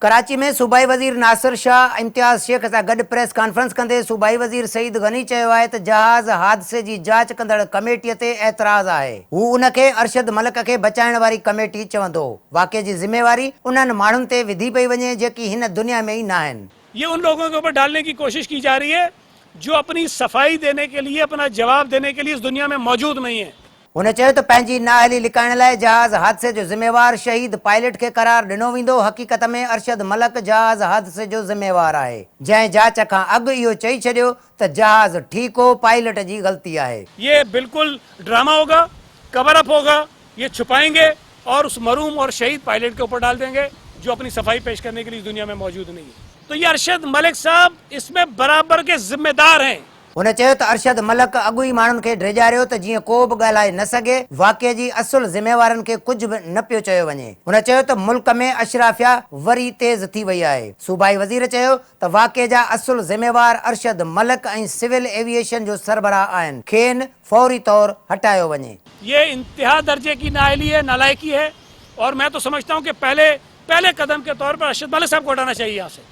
ڪراچي ۾ صوبائي وزير ناصر شاهه امتياز شيخ سان گڏ پريس ڪانفرنس ڪندي صوبائي وزير سعيد غني چيو آهي ته جهاز حادثي جي جاچ ڪندڙ ڪميٽي تي اعتراض آهي هو ان کي ارشد ملڪ کي بچائڻ واري ڪميٽي چوندو واقعي جي ذميواري انهن ماڻهن تي وڌي پئي وڃي جيڪي هن دنيا ۾ ئي ناهن. يي ان لوگون ڪي اوپر ڊالني ڪي ڪوشش ڪي جا رهي هي جو اپني صفائي ديني ڪي ليي اپنا جواب ديني ڪي ليي اس دنيا ۾ موجود نهين هين هن چيو ته پنهنجي نااهلي لڪائڻ لاء جهاز حادثي جو ذميوار شهيد پائلٽ کي قرار ڏنو ويندو، حقيقت ۾ ارشد ملڪ جهاز حادثي جو ذميوار آهي، جنهن جاچ کان اڳ اهو چئي ڇڏيو ته جهاز ٺيڪ هو، پائلٽ جي غلطي آهي. يي بلڪل ڊراما هوگا، ڪور اپ هوگا، يي ڇپائينگي اور اس مرحوم اور شهيد پائلٽ کي اوپر ڊال دينگي جو اپني صفائي پيش ڪرني ڪي لئي اس دنيا مين موجود نهين هي. تو يي ارشد ملڪ صاحب اس مين برابر ڪي ذميدار هين. هن چيو ته ارشد ملڪ اڳ ئي ماڻهن کي ڊيڄاريو ته جيئن ڪو به ڳالهائي نه سگهي، واقعي جي اصل ذميوارن کي ڪجهه به نه پيو چيو وڃي. هن چيو ته ملڪ ۾ اشرافيا وري تيز ٿي وئي آهي. صوبائي وزير چيو ته واقعي جا اصل ذميوار ارشد ملڪ ۽ سول ايويئيشن جو سربراهه آهن، کين فوري طور هٽايو وڃي. يي انتها درجي ڪي نااهلي هي، نالائقي هي اور مين تو سمجهتا هون ڪي پهلي پهلي قدم ڪي طور پر ارشد ملڪ صاحب ڪو هٽانا چاهيي يهان سي.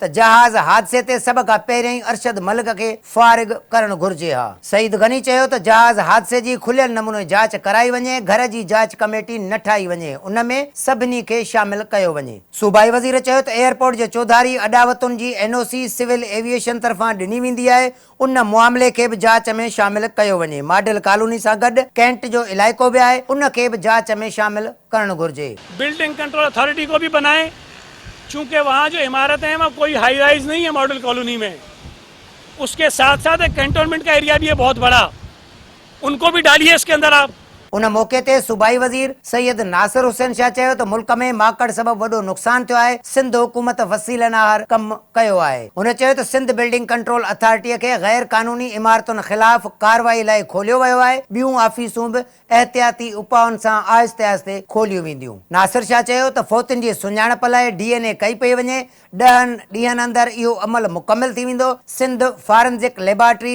ته جهاز حادثي تي سڀ کان پهريائين ارشد ملڪ کي فارغ ڪرڻ گهرجي ها. سعيد غني چيو ته جهاز حادثي جي کليل نموني جاچ ڪرائي وڃي، گهر جي جاچ ڪميٽي نه ٺاهي وڃي، ان ۾ سڀني کي شامل ڪيو وڃي. صوبائي وزير چيو ته ايئرپورٽ جي چوڌاري اڏاوتن جي N O C civil aviation طرفان ڏني ويندي آهي، ان معاملي کي به جاچ ۾ شامل ڪيو وڃي. ماڊل ڪالوني سان گڏ ڪينٽ جو علائقو به آهي، ان کي به جاچ ۾ شامل ڪرڻ گهرجي. بلڊنگ ڪنٽرول اٿارٽي ڪو ڀي بنائي چونڪه وهان جو عمارتين هين وهان ڪوئي هائي رائز نهي هين ماڊل ڪالوني مين اسڪي ساٿ ساٿ ايڪ ڪينٽونمينٽ ڪا ايريا ڀي هي بهت بڙا. ان ڪو ڀي ڊالي اس ڪي اندر آپ. ان موقعي تي صوبائي وزير سيد ناصر حسين شاهه چيو ته ملڪ ۾ ماڪڙ سبب وڏو نقصان ٿيو آهي، سنڌ حڪومت وسيلن آهر ڪم ڪيو آهي. هن چيو ته سنڌ بلڊنگ ڪنٽرول اٿارٽي کي غير قانوني عمارتن خلاف ڪارروائي لاء کوليو ويو آهي، ٻيون آفيسون به احتياطي اپائن سان آهستي آهستي کوليون وينديون. ناصر شاهه چيو ته فوتين جي سڃاڻپ لاء ڊي اين اي ڪئي پئي وڃي، ڏهن ڏينهن اندر اهو عمل مڪمل ٿي ويندو، سنڌ فارنزڪ ليبارٽري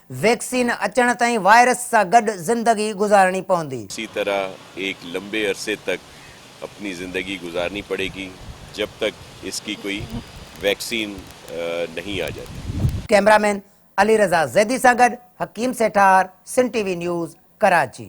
ويڪسين اچڻ تائين وائرس سان گڏ زندگي گذارڻي پوندي. اسي طرح ايڪ لمبي عرصي تڪ اپني زندگي گذارني پڙي گي جب تڪ اس ڪي ڪوئي ويڪسين نهين آ جاتي. ڪئميرا مين علي رضا زيدي سان گڏ حڪيم Sethar, Sindh T V news, Karachi.